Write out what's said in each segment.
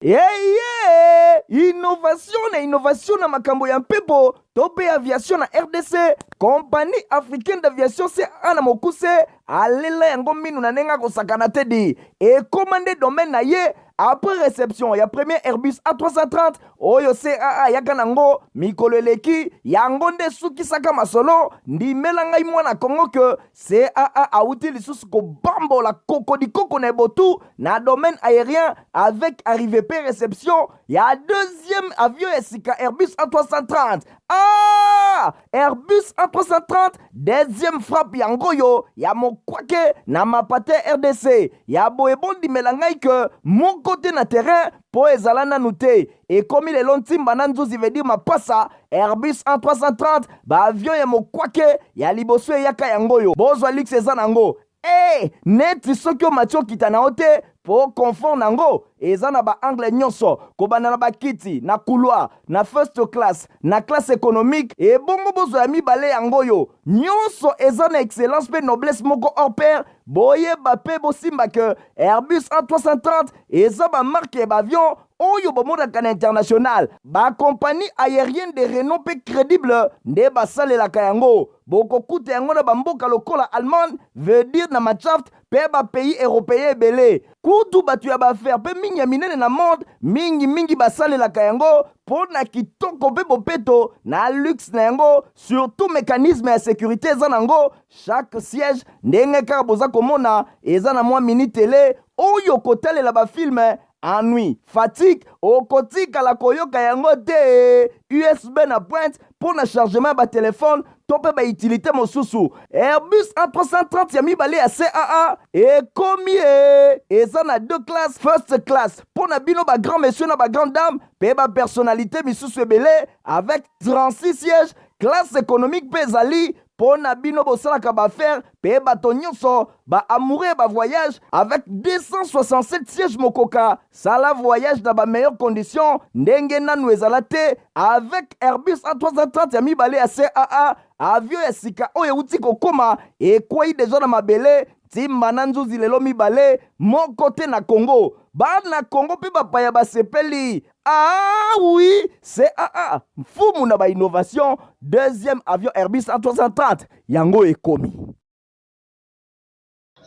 Eye innovation na innovation na makambo ya mpepo to mpe aviation na rdc compagnie africaine d'aviation ca na mokuse alela yango minu na ndenge akosakana te di ekóma nde domaine na ye après reception ya premier airbus a330 oyo caa ayaka na yango mikolo eleki yango nde esukisaka masolo ndimela ngai mwana kongo ke caa awuti lisusu kobambola kokodikoko na ebotu na domaine aérien avec arrive pe reception ya deuxième avion ya sika airbus a330 ah! Airbus A330 deuxième frappe ya ngoyo ya mokwake na mapate RDC ya boye bondimela ngai ke moko te na terrain po ezala nanu te ekomi lelo ntimba na nzuzi veut dire mapasa Airbus A330 ba avion ya mokwake ya liboso eyaka yango oyo bozwa luxe eza nango Ee, neti soki omati okita na yo te, po confort na yango eza na ba angles nionso, kobanda na ba kiti, na couloir, na first class, na classe economique, ebongo bozwa ya mibale yango oyo. Nionso eza na excellence pe noblesse moko hors pair, boyeba pe bosimba que Airbus A330 eza ba marques ya ba avions oyo bomonaka na international, ba compagnies aeriennes de renom mpe credibles nde basalelaka yango. Bokokuta yango na bamboka lokola Allemagne, veut dire na Matschaft, mpe ba pays europeens ebele. Kutu bato ya ba affaires mpe mine ya minene na monde mingi mingi basalelaka yango mpo na kitoko mpe bopeto na luxe na yango, surtout mecanisme ya securite eza nango, chaque siège, ndenge kaka boza komona, eza na mwa mini tele oyo kotalela ba films Ennui, fatigue, okotikala koyoka yango te. USB na pointe mpo na chargement ya batelefone to mpe baitilite mosusu. Airbus A330 ya mibale ya CAA ekomi ye. Eza na deux classe, first class mpo na bino ba grand monsieur na ba grande dame mpe ba personnalite misusu ebele avec 36 sièges classe économique mpe ezali Po na bino bosalaka ba affaires pe bato nionso ba amoureux ya ba voyages avec 267 sièges mokoka sala voyage na ba meilleures conditions ndenge nanu ezala te avec Airbus A330 ya mibale ya CAA avion ya sika oyo ewuti kokoma ekweyi deja na mabele timba na nzuzi lelo mibale moko te na Congo bana Congo pe bapaya basepeli Ah oui, c'est ah ah, mfumu na ba innovation, deuxième avion Airbus 330 yango ekomi.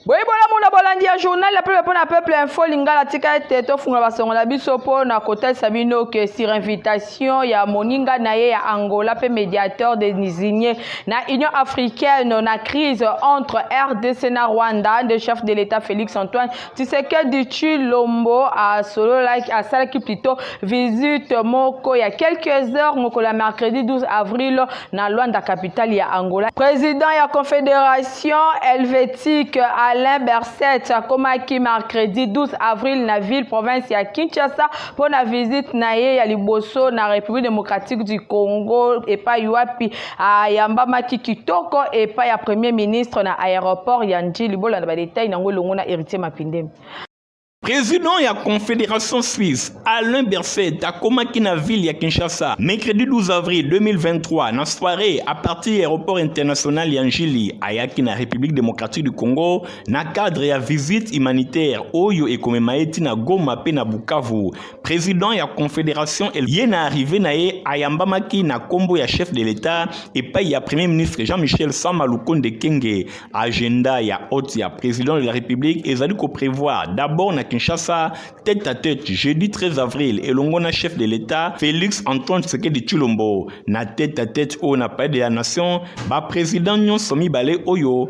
boye bolamu na bolandi ya journal ya peuple mpo na peuple info lingala tika ete tofungola basongo na biso mpo na kotalisa bino ke sur invitation ya moninga na ye ya angola mpe médiateur désigné na union africaine na crise entre rdc na rwanda nde chef de l'état félix antoine Tshisekedi Tshilombo asololaki asalaki plutôt visite moko ya quelques heures mokolo ya mercredi 12 avril na Luanda capitale ya Angola. Président ya Confédération helvétique Alain Berset akomaki mercredi 12 avril na ville province ya Kinshasa mpo na visite na ye ya liboso na République démocratique du Congo epai wapi ayambamaki kitoko epai ya premier ministre na aéroport ya ndjili bolanda badetail na yango elongo na héritier mapindemi Président ya Confédération Suisse, Alain Berset, akomaki na ville ya Kinshasa mercredi 12 avril 2023 na soirée à partir ya aéroport international ya Njili ayaki na République démocratique du Congo na cadre ya visite humanitaire oyo ekomema ye ti na Goma mpe na Bukavu Président ya confédération ye na arrivé na ye ayambamaki na kombo ya chef de l'État epai ya Premier ministre Jean-Michel Sama Lukonde Kenge. Agenda ya hôte ya président de la République ezali ko prévoir d'abord na Kinshasa tête à tête jeudi 13 avril elongo na chef de l'État Félix Antoine Tshisekedi Tshilombo na tête à tête oyo na Palais de la Nation ba président nyonso mibale oyo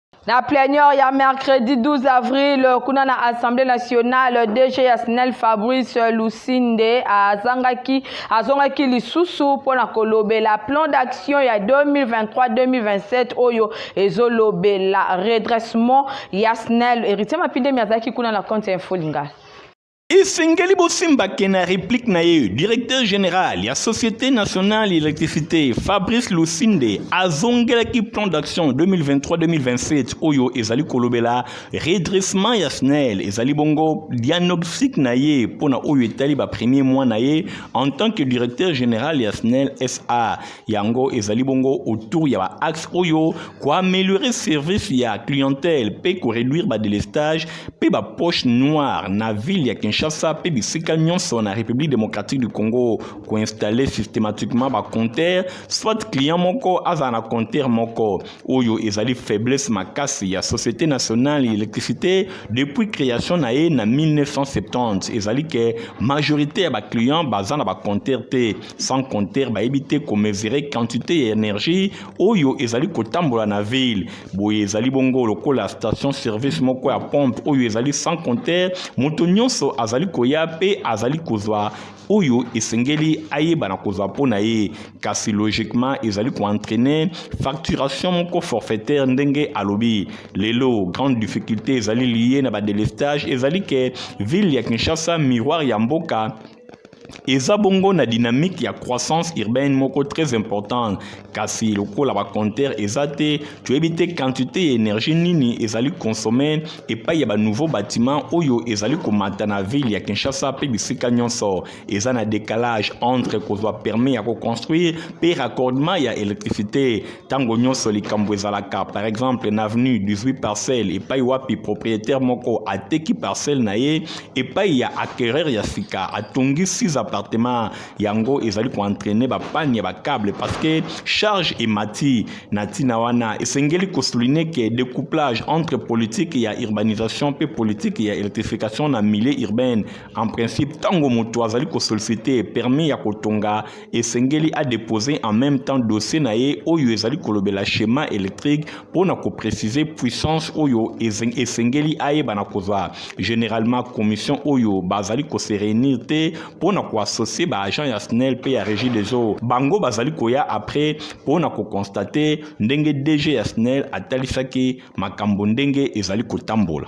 Na plenior ya mercredi 12 avril kuna na Assemblée nationale DG ya SNEL Fabrice Lusinde azangaki azongaki lisusu mpo na kolobela plan d'action ya 2023-2027 oyo ezolobela redressement ya SNEL. Heritier Mapindemi azalaki kuna na compte ya Info Lingala. esengeli bosimbake na replique na ye directeur général ya société nationale électricité fabrice lusinde azongelaki plan d'action 2023-2027 oyo ezali kolobela redressement ya snel ezali bongo diagnostic na ye mpo na oyo etali bapremier mois na ye en tant que directeur général ya snel sa yango ezali bongo autour ya ba axe oyo koaméliorer service ya clientèle mpe koreduire badelestage mpe bapoche noire na ville ya kinshasa mpe bisika nyonso na république démocratique du congo koinstalle systématiquement bacompteur soit client moko azala na compteur moko oyo ezali faiblesse makasi ya société nationale ya électricité depuis création na ye na 1970 ezali ke majorité ya baclient baza na bacompteur te sans compter bayebi te komesure quantité ya energie oyo ezali kotambola na ville boye ezali bongo lokola station service moko ya pompe oyo ezali sans compter moto nyonso azali koya mpe azali kozwa oyo esengeli ayeba na kozwa mpo na ye kasi logiquement ezali koentraîne facturation moko forfaitaire ndenge alobi lelo grande difficulté ezali liye na badelestage ezali ke ville ya kinshasa miroir ya mboka eza bongo na dynamique ya croissance urbaine moko très importante kasi lokola bacompteur eza te toyebi te quantité ya énergie nini ezali consomme epai ya banouveau bâtiment oyo ezali komata na ville ya kinshasa mpe bisika nyonso eza na décalage entre kozwa permis ya koconstruire mpe raccordement ya électricité ntango nyonso likambo ezalaka par exemple na avenue 18 parcelle epai wapi propriétaire moko ateki parcelle na ye epai ya acquereur ya sika atongi 6 appartement yango ezali koentraine bapane ya bacable parce que charge emati na ntina wana esengeli kosouline ke découplage entre politique ya urbanisation mpe politique ya électrification na milieu urbaine en principe ntango moto azali kosolicite permis ya kotonga esengeli a deposer en même temps dossier na ye oyo ezali kolobela schéma électrique mpo na kopréciser puissance oyo esengeli ayeba na kozwa généralement commission oyo bazali kose réunir te mpo na koassocie baagent ya snel mpe ya régie des eaux bango bazali koya après mpo na kokonstate ndenge dg ya snel atalisaki makambo ndenge ezali kotambola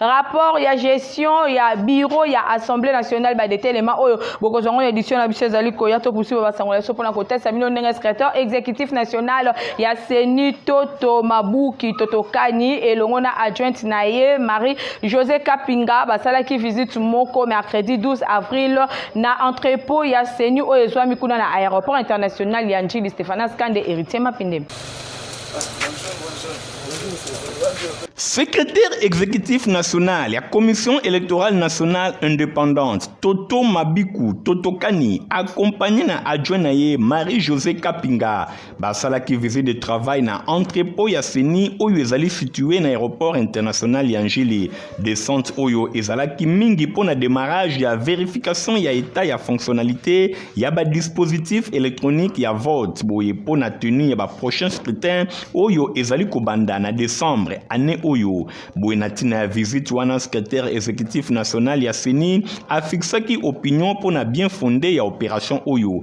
rapport ya gestion ya bureau ya assemblée nationale badetelema oyo bokozwa yango na édition na biso ezali koya topusi babasangola biso mpona kotalisa bino ndenge secrétaire exécutif national ya ceni toto mabuki totokani elongo na adjointe na ye marie josé kapinga basalaki visite moko mercredi 12 avril na entrepôt ya ceni oyo ezwami kuna na aéroport international ya njili stéphanas kande héritier mapinde Secrétaire exécutif national la Commission électorale nationale indépendante, Toto Mabiku, Toto Kani, accompagné na adjoint Marie-Josée Kapinga, qui visite de travail na entrepôt ya CENI oyo situé na aéroport international Yangili, Descente oyo ezalaki mingi mpo na demarrage ya verification ya etat ya fonctionnalité ya ba dispositif électronique ya vote boye mpo na tenue ya ba prochain scrutin oyo ezali kobanda na décembre année oyo boye na ntina ya visite wana secrétaire exécutif national ya CENI afixaki opinion mpo na bien fonde ya opération oyo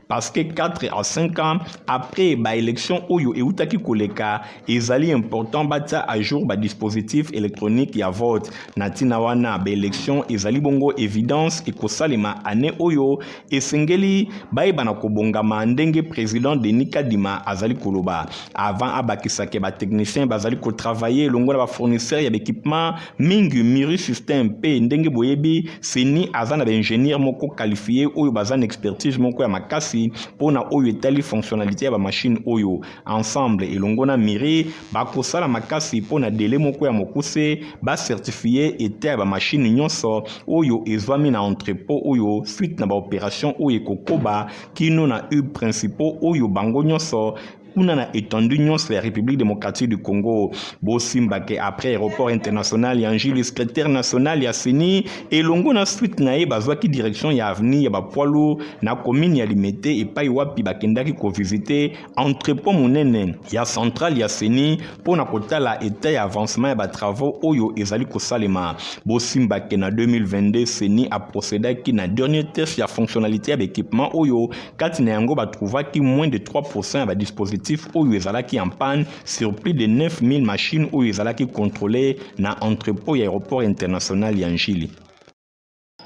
parce que 4 à 5 ans après ba élection oyo eutaki koleka ezali important batia à jour ba dispositif électronique ya vote na ntina wana ba élection ezali bongo évidence ekosalema année oyo esengeli bayeba na kobongama ndenge président denis kadima azali koloba avant abakisake batechnicien bazali kotravaille elongo na bafournisseur ya baéquipement mingi miri système mpe ndenge boyebi seni aza na baingénieur moko qualifie oyo baza na expertise moko ya makasi mpo na oyo etali fonctionnalité ya bamashine oyo ensemble elongo na miri bakosala makasi mpo na dele moko ya mokuse bacertifie eta ya bamashine nyonso oyo ezwami na entrepot oyo suite na baoperation oyo ekokoba kino na hub principaux oyo bango nyonso kuna na étendue nyonso ya république démocratique du congo bosimba ke après aéroport international ya njili secrétaire national ya ceni elongo na suite na ye bazwaki direction ya avenue ya bapwalo na commune ya limete epai wapi bakendaki kovisite entrepot monene ya centrale ya ceni mpo na kotala etat ya avancement ya batravaux oyo ezali kosalema bosimba ke na 2022 ceni aprocedaki na dernier test ya fonctionnalité ya baekipement oyo kati na yango batrouvaki moins de 3 pourcent ya badispositif oyo ezalaki en panne sur plus de 9000 machines oyo ezalaki contrôle na entrepôt ya aéroport international ya njili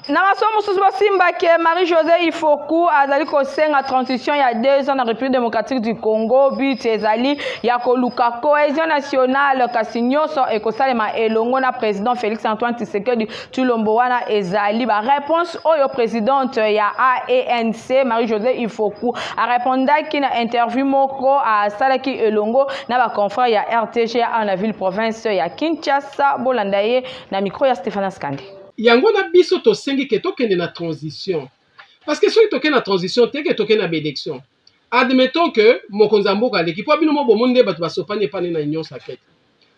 Na masolo mosusu bosimba ke Marie-Josée Ifoku azali kosenga transition ya deux ans na République démocratique du Congo. But ezali ya koluka cohésion nationale kasi nyonso ekosalema elongo na président Félix Antoine Tshisekedi Tshilombo wana ezali ba réponse oyo présidente ya ANC Marie-Josée Ifoku arepondaki na interview moko asalaki elongo na ba confrères ya RTGA na ville province ya Kinshasa. Bolanda ye na micro ya Stéphane Skande. Yango na biso tosengi ke tokende na transition parce que soki tokende na transition te ke tokende na baelection admettons ke mokonzi ya mboka aleki mpo bino mo bomoni nde bato basopani epai nde na union sacrete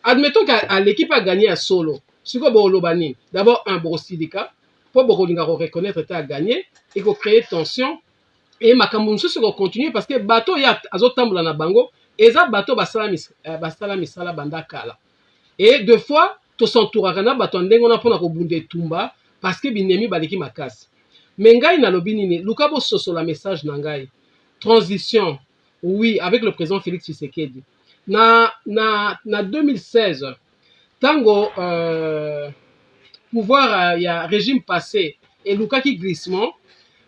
admettons ke aleki mpe aganye ya solo sikoyo bokoloba nini d'abord un bokosilika mpo bokolinga koreconnaitre te aganye ekocree tension e makambo mosusu ekocontinue parce que bato oyo azotambola na bango eza bato basala misala banda kala et de fois to s'entouraka na bato ya ndenge wana mpo na kobunda etumba parce que binemi baleki makasi mais ngai nalobi nini luka bososola message na ngai transition oui avec le président Félix Tshisekedi na na na 2016 tango euh, pouvoir euh, ya régime passé elukaki glissement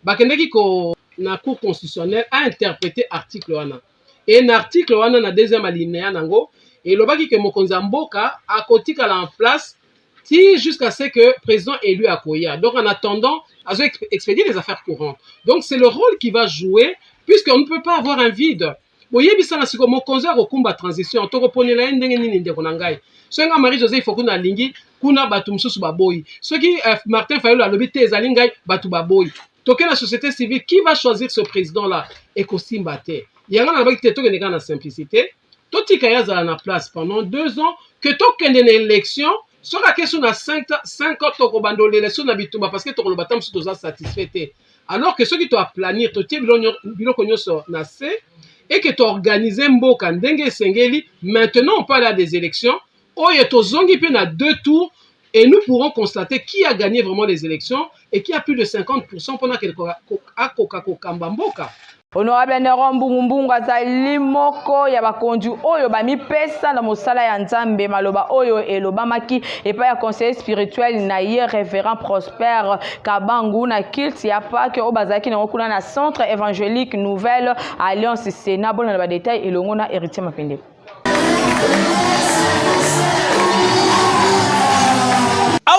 bakendeki ko na cour constitutionnelle a interpréter article wana Et na article wana na deuxième alineya nango elobaki que mokonzi ya mboka akotikala en place ti jusqu'à ce que president elu akoya donc en attendant azo expedier les affaires courantes donc c'est le rôle qui va jouer puisqu'on ne peut pas avoir un vide boyebisana siko mokonzi ya kokumba transition tokoponela ye ndenge nini ndeko na ngai soki ngai marie joseph okuna alingi kuna bato mosusu baboyi soki eh, martin fayulu alobi te ezali ngai bato baboyi toke na société civile qui va choisir ce président là ekosimba te yango nalobaki te tokende kaka na simplicité totika ye azala na place pendant deux ans que tokende na élection soki ake so na 5 ans tokobanda olela so na bitumba parce que tokoloba ta mosusu toza satisfait te alors que soki toaplanir totie biloko nyonso na se et que toorganize mboka ndenge esengeli maintenant on peut aller à des élections Oyo tozongi pe na deux tours et nous pourrons constater qui a gagné vraiment les élections et qui a plus de 50% pona ke akoka kokamba mboka. Honorable Neron Mbungu Mbungu azali moko ya bakonzi oyo bamipesa na mosala ya Nzambe. Maloba oyo elobamaki epai ya conseiller spirituel na ye Reverend Prosper Kabangu na kilt ya Pake oyo bazalaki nango kuna na Centre Evangelique Nouvelle Alliance Sena. Bolanda ba detail elongo na Heritier Mapende.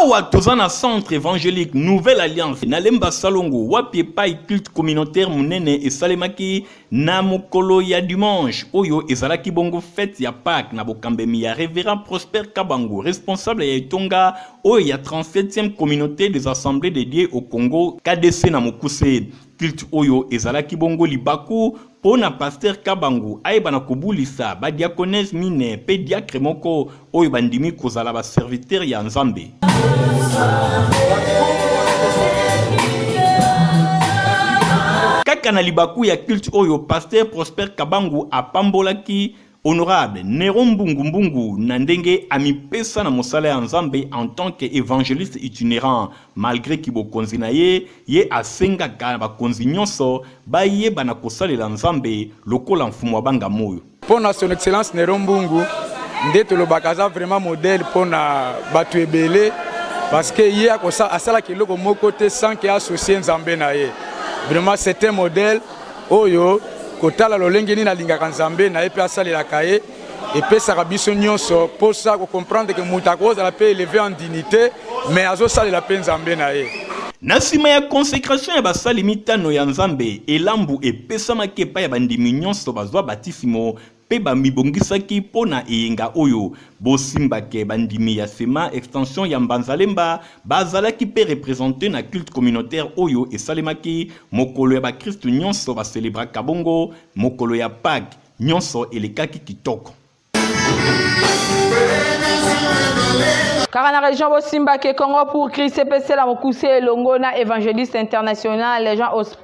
awa toza na centre évangélique nouvelle alliance na lemba salongo wapi epai culte communautaire monene esalemaki na mokolo ya dimanche oyo ezalaki bongo fete ya pâque na bokambemi ya révérend prosper kabango responsable ya etonga oyo ya 37e communauté des assemblées de dieu au congo kdc na mokuse Culte oyo ezalaki bongo libaku mpo na Pasteur Kabangu ayeba na kobulisa ba diaconesses mine mpe diacre moko oyo bandimi kozala ba serviteurs ya Nzambe. Kaka na libaku ya culte oyo, Pasteur Prosper Kabangu apambolaki Honorable Nero Mbungu Mbungu na ndenge amipesa na mosala ya Nzambe en tant que evangeliste itinerant malgre kibokonzi na ye, ye asengaka na bakonzi nyonso bayeba na kosalela Nzambe lokola Mfumu abanga moyo. Mpo na Son Excellence Nero Mbungu nde tolobaka aza vraiment modèle mpo na bato ebele parce que ye asalaka eloko moko te sans que associer Nzambe na ye. Vraiment c'est un modèle. oyo kotala lolenge nini alingaka Nzambe na ye mpe asalelaka ye epesaka biso nyonso mposa kocomprendre ke moto akozala mpe eleve en dignité mais azosalela mpe Nzambe na ye. Na nsima ya consecration ya basali mitano ya Nzambe, elambo epesamaki epai ya bandimi nyonso bazwa batisimo mpe bamibongisaki mpo na eyenga oyo. Bosimba que bandimi ya Sema extension ya Mbanzalemba bazalaki mpe representer na culte communautaire oyo esalemaki mokolo ya bakristu nionso ba celebraka bongo mokolo ya Paques. Nionso elekaki kitoko. Kaka na region bosimba que Congo pour Christ epesela mokuse elongo na evangeliste international Jean Osp.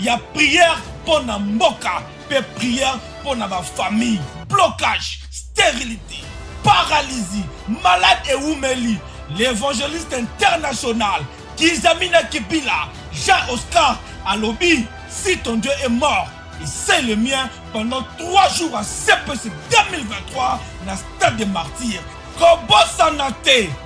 ya prière mpo na mboka mpe prière mpo na bafamille blocage sterilité paralysie malade ewumeli l'évangéliste international kizamina kipila jean oscar alobi si ton dieu est mort et c'est le mien pendant 3 jours à cpc 2023 na stade de martyr kobosana te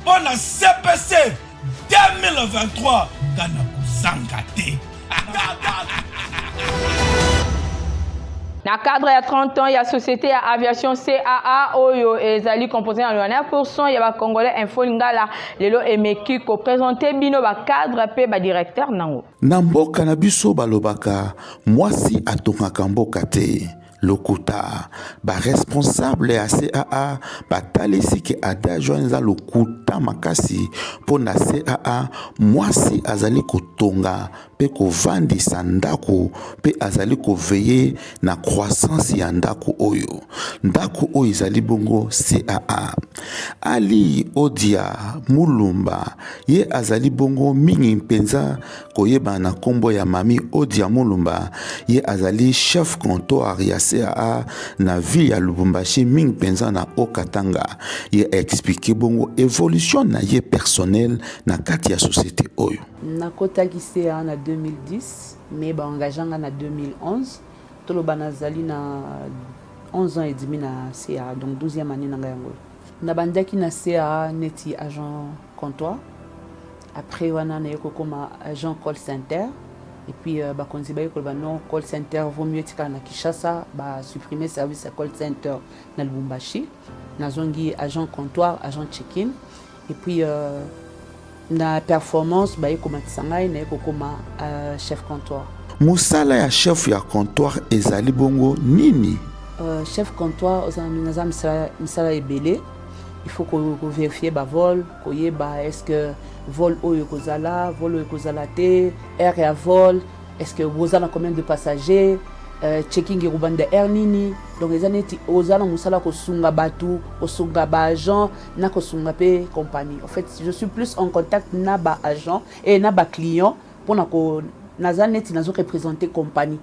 Mpo na CPC 2023 nga na kozanga te. Na cadre ya 30 ans ya société ya aviation CAA oyo ezali composé na 99% ya ba congolais info lingala lelo emeki ko présenter bino ba cadre pe ba directeur nango. Na mboka na biso balobaka mwasi atongaka mboka te. lokuta baresponsable ya caa batalisi ke adage wana eza lokuta makasi mpo na caa mwasi azali kotonga mpe kovandisa ndako mpe azali koveye na croissance ya ndako oyo ndako oyo ezali bongo caa ali odia mulumba ye azali bongo mingi mpenza koyeba na kombo ya Mami Odia Mulumba, ye azali chef comptoir ya CAA na ville ya Lubumbashi mingi penza na Haut-Katanga. Ye a expliquer bongo evolution na ye personnel na kati ya société oyo. Nakotaki CAA na 2010 mais ba engagea nga na 2011. Toloba nazali na 11 ans et demi na CAA donc 12e annee na nga yango. Nabandaki na CAA neti agent comptoir après wana naye kokoma agent call center et puis euh, bakonzi baye koloba non call center vaut mieux etikala na kinshasa basupprime service ya call center na lubumbashi nazongi agent comptoir agent check-in et puis euh, na performance baye komatisa ngai naye kokoma euh, chef comptoir mosala ya chef ya comptoir ezali bongo nini euh, chef comptoir oza naza misala ebele il faut ko, ko vérifier ba vol koyeba est ce que vol oyo ekozala vol oyo ekozala te aire ya vol est ce que boza na combien de passagers euh, checking ekobanda aire nini donc eza neti oza na mosala kosunga bato kosunga baagent na kosunga mpe compagnie en fait je suis plus en contact na baagent e na baclient mpona ko naza neti nazo représente compagnie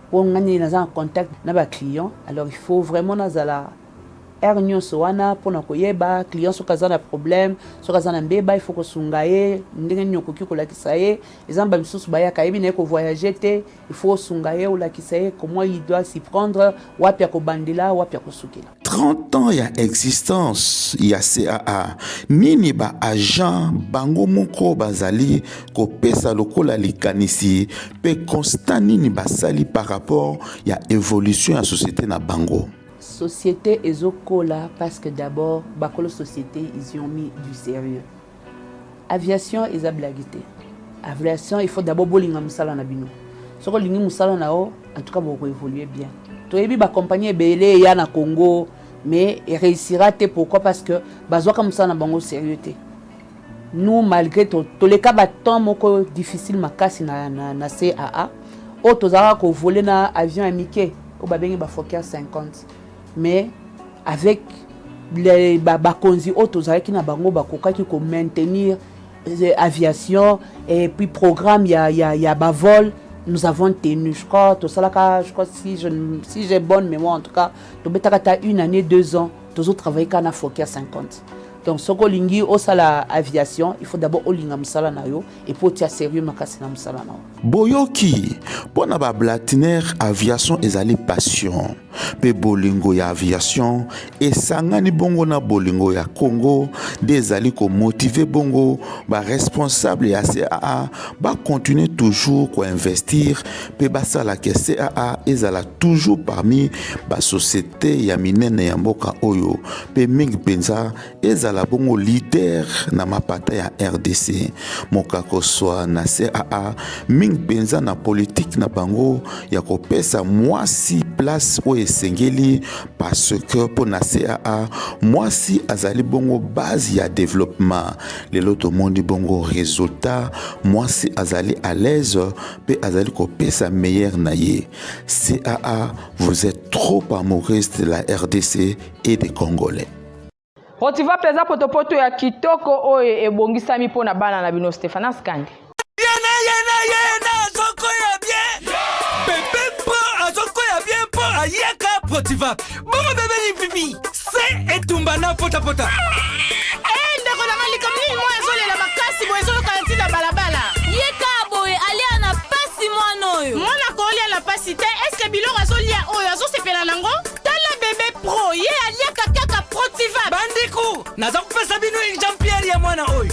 mpo ngani naza na contact na baclient alors il faut vraiment nazala Heure nionso wana pona koyeba client soki aza na problème, soki aza na mbeba il faut kosunga ye ndenge nini okoki kolakisa ye. Eza na ba misusu bayaka ayebi na ye ko voyager te, il faut osunga ye olakisa ye comment il doit s'y prendre, wapi akobandela, wapi akosukela. 30 ans ya existence ya CAA, nini ba agents bango moko bazali kopesa lokola likanisi pe constat nini basali par rapport ya evolution ya societe na bango? Societe ezo kola parceque d'abord bakolo societe ils ont mis du serieux. Aviation eza blague te. Aviation il faut d'abord bolinga musala na bino. Soko lingi musala na yo en tout cas boko évoluer bien. Toyebi ba compagnie ebele ya na Congo mais réussira te pourquoi parce que bazwaka musala na bango serieux te. nous malgré to toleka ba temps moko difficile makasi na na, na CAA oyo tozalaka kovole na avion ya mike oyo babengi bafoker 50 mais avec bakonzi oyo tozalaki na bango bakokaki komaintenir euh, aviation et puis programme ya, ya, ya bavol nous avons tenu je crois tosalaka je crois si je, si j'ai bonne mémoire en tout cas tobetaka ta une année deux ans tozo travailler kaka na foki ya 50 donc soki olingi osala aviation il faut d'abord olinga mosala na yo epuis otia sérieux makasi na mosala na yo boyoki mpo na bablatiner aviation ezali passion mpe bolingo ya aviation esangani bongo na bolingo ya congo nde ezali komotive bongo baresponsable ya caa bakontinue toujours koinvestir mpe basalaka caa ezala toujours parmi basociété te ya minene ya mboka oyo mpe mingi mpenza ezala bongo lider na mapata ya rdc mokakoswa na caa mingi mpenza na politike na bango ya kopesa mwasi place oyo esengeli parce que mpo na caa mwasi azali bongo base ya developpement lelo tomoni bongo resultat mwasi azali à l'aise mpe azali kopesa meilleur na ye caa Vous êtes trop amoureuse de la RDC et des Congolais. Rotiva Plaza potopoto ya kitoko oyo ebongisami mpo na bana na bino Stephanas Kande. Yena yena yena azoko ya bien. Bebe mpo azoko ya bien mpo ayaka Rotiva. Bongo bebe lipipi. se etumba na potapota eh, ndeko na malika mingi moi azolela makasi boye ezolokana ntina balabala ye kaa boye alia na pasi mwana oyo mwana kolia na pasi te eske biloko azolia oyo azosepela nango tala bebe pro ye aliaka kaka protiva bandeko naza kopesa bino exampiere ya mwana oyo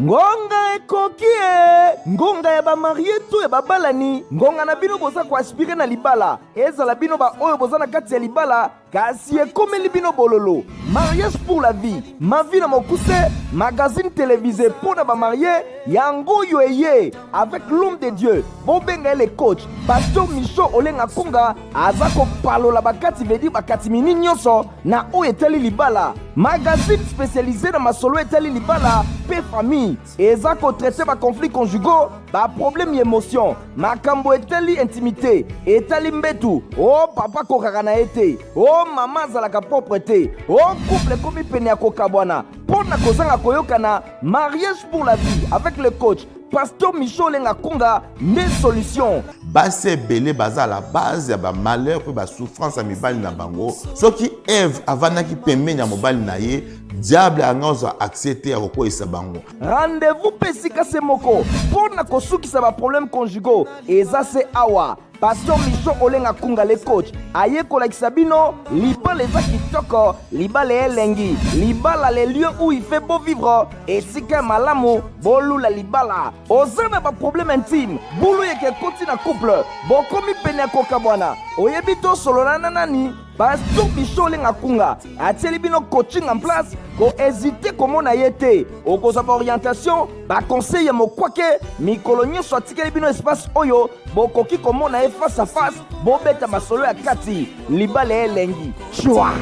ngonga ekoki e ngonga ya bamarie to ya babalani ngonga na bino boza koaspire na libala ezala bino baoyo boza na kati ya libala kasi ekomeli bino bololo mariage pour la vie mavi na mokuse magazine televise mpo na bamarie yango oyo eye avec l'homme de dieu bobenga ye le coach pasteur micho olenga konga aza kopalola bakati vedi bakati mini nyonso na oyo etali libala magazine spécialisé na masolo etali libala mpe famille eza kotraite baconflit conjugaux baproblème ya émotion makambo etali intimité etali mbetu o oh, papa kokaka na ye te o oh, mama azalaka propre te o oh, couple ekomi pene ya kokabwana mpo na kozanga koyokana mariage pour la vie avec le coach pasteur michel olenga kunga nde solution basi ebele baza la base ya bamalheur mpe basouffrance ya mibali na bango soki eve avandaki pembeni ya mobali na ye diable anga ozwa accès te ya kokweisa bango rendez-vous mpe esika se moko mpo na kosukisa baproblème conjugaux eza se awa pasteur miso olenga kunga le coach aye kolakisa bino libala eza kitoko libala elengi libala le lieu où il fait beau vivre esika ya malamu bolula libala oza na baproblème intime bulu yeke ekoti na couple bokomi pene ya kokabwana oyebi tosolola na nani pasteur biso olenga kunga atieli bino coaching en place kohezite komona ye te okozwa baorientation baconseil ya mokwake mikolo nyonso atikeli bino espace oyo bokoki komona ye face à face bobeta masolo ya kati libala ya elengi cwa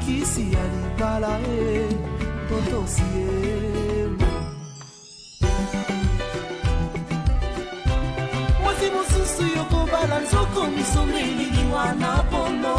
kisi ya libala e totosi ye mwasi mosusu yokobala nzoko misombe elili wana pono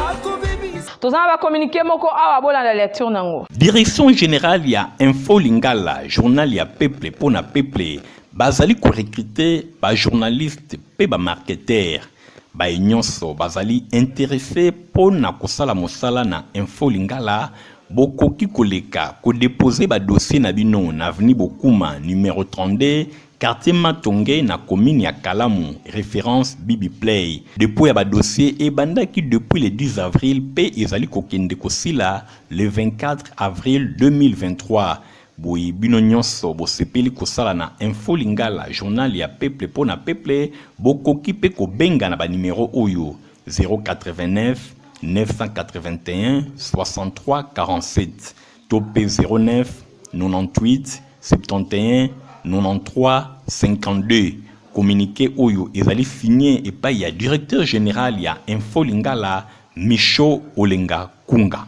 akobebisa toza na bakominike moko awa bolanda lecture nango direction générale ya info lingala journal ya peuple mpo na peuple Bazali ko recruter ba journalistes mpe ba marketeurs baye nyonso bazali interesse mpo na kosala mosala na Info Lingala, bokoki koleka ko deposer ba dossiers na bino na avenue Bokuma numero 32, quartier Matonge na commune ya Kalamu, reference Bibiplay. Depot ya ba dossiers ebandaki depuis le 10 avril mpe ezali kokende kosila le 24 avril 2023. Boye bino nionso bosepeli kosala na info lingala journal ya peuple po na peuple bokoki pe kobenga na ba numero oyo 089-991-6347 to pe 09-98-71-93-52 communique oyo ezali signe epayi ya directeur general ya info lingala Michaud Olenga Kunga.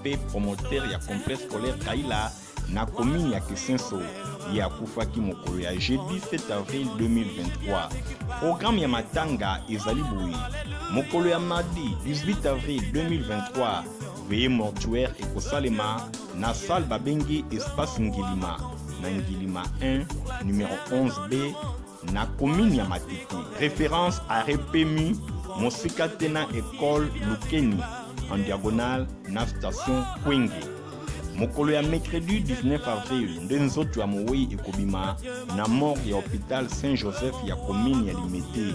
mpe promoteur ya complexe scolaire Kaila na commune ya Kisenso ye akufaki mokolo ya jeudi 7 avril 2023. Programme ya matanga ezali boye: mokolo ya mardi 18 avril 2023 veye mortuaire ekosalema na salle babengi espace Ngilima na Ngilima 1 numero 11B na komini ya Matete. Reference arret PMU mosika te na ekole Lukeni en diagonale na station Kwenge. Mokolo ya mercredi 19 avril nde nzoto ya mowei ekobima na morgue ya hôpital Saint Joseph ya komini ya Limete.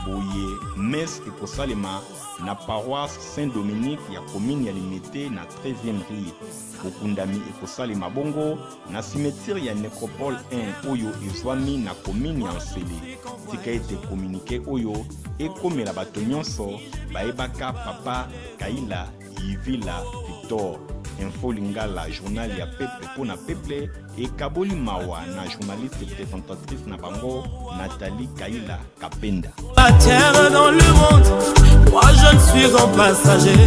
Boye messe ekosalema na paroisse Saint Dominique ya komini ya Limete na 13e rue. Bokundami ekosalema bongo Na simetire ya Necropole 1 oyo ezwami na komini ya Nsele, tika ete kominike oyo ekomela bato nyonso bayebaka Papa Kaila Yivila Victor. Info Lingala, journal ya peuple mpo na peuple, ekaboli mawa na journaliste presentatrice na bango Nathalie Kaila. Kapenda. La terre dans le monde, moi je ne suis qu'un passager.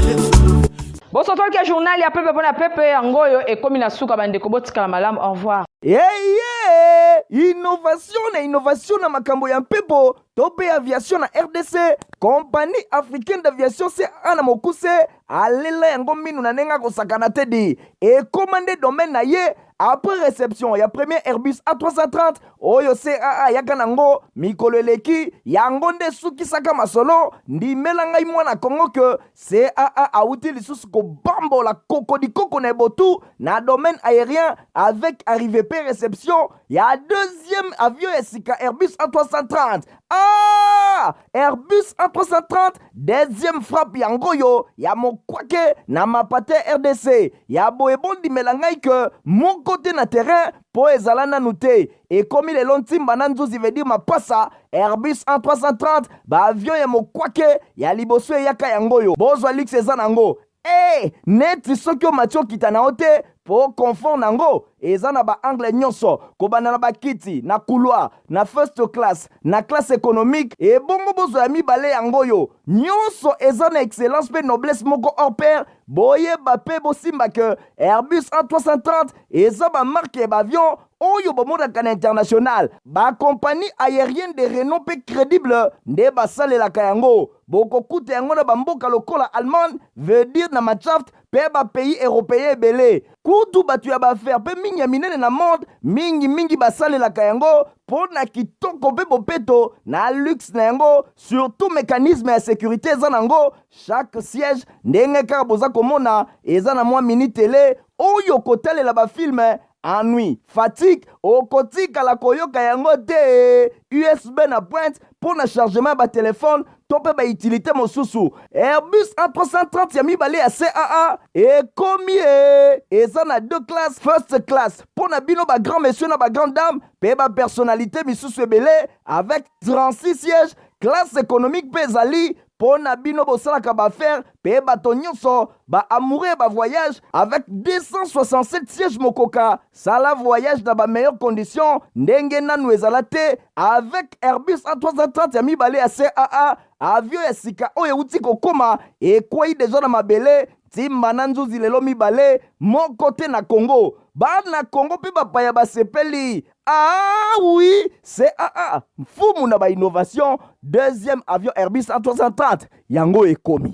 bosotolike journal ya pepe mpona pepe yango oyo ekomi na suka bandeko botikala malamu au revoir eye innovation na innovation na makambo ya mpepo to mpe aviation na rdc compagnie africaine d'aviation ca na mokuse alela yango minu na ndenge akosakana te di ekóma nde domaine na ye après reception ya premier Airbus A330 oyo CAA ayaka nango mikolo eleki, yango nde esukisaka masolo. Ndimela ngai mwana Congo que CAA awuti lisusu kobambola kokodikoko na ebotu na domaine aerien avec arrivee pe reception ya deuxième avion ya sika Airbus A330. Ah! Airbus A330 deuxième frappe ya ngoyo ya mokwake na mapate RDC ya boye bondimela ngai ke moko te na terrain po ezala nanu te ekomi lelo ntimba na nzuzi veut dire mapasa Airbus A330 ba avion ya mokwake ya liboso eyaka yango oyo bozwa luxe eza nango Ee, neti soki omati okita na yo te, po confort na yango eza na ba angles nionso, kobanda na ba kiti, na couloir, na first class, na classe economique, ebongo bozwa ya mibale yango oyo. Nionso eza na excellence pe noblesse moko hors pair, boyeba pe bosimba que Airbus A330 eza ba marques ya ba avions oyo bomonaka na international, ba compagnies aeriennes de renom pe credibles nde basalelaka yango. Bokokuta yango na bamboka lokola Allemagne, veut dire na Matshaft, mpe ba pays europeens ebele. Kutu bato ya b'affaires mpe mingi ya minene na monde, mingi mingi basalelaka yango mpo na kitoko mpe bopeto na luxe na yango, surtout mecanisme ya securite eza n'ango, chaque siège ndenge kaka boza komona eza na mwa mini tele oyo kotalela ba films Ennui, fatigue, okotikala koyoka yango te. USB na pointe mpo na chargement ya batelefone to mpe baitilite mosusu. Airbus A330 ya mibale ya CAA ekomi ye. Eza na deux classe, first class mpo na bino ba grand monsieur na ba grande dame mpe ba personnalite misusu ebele avec 36 sièges classe économique mpe ezali mpo na bino bosalaka baaffaire mpe bato nyonso baamoure ya bavoyage avec 267 siège mokoka sala voyage na bameilleure condition ndenge nanu ezala te avec airbus a330 ya mibale ya caa avio ya sika oyo euti kokoma ekwei deja na mabele ntimba na nzuzi lelo mibale moko te na congo bana congo mpe bapaya basepeli Ah oui, c'est ah ah, mfumu na ba innovation, deuxième avion Airbus 330 yango ekomi.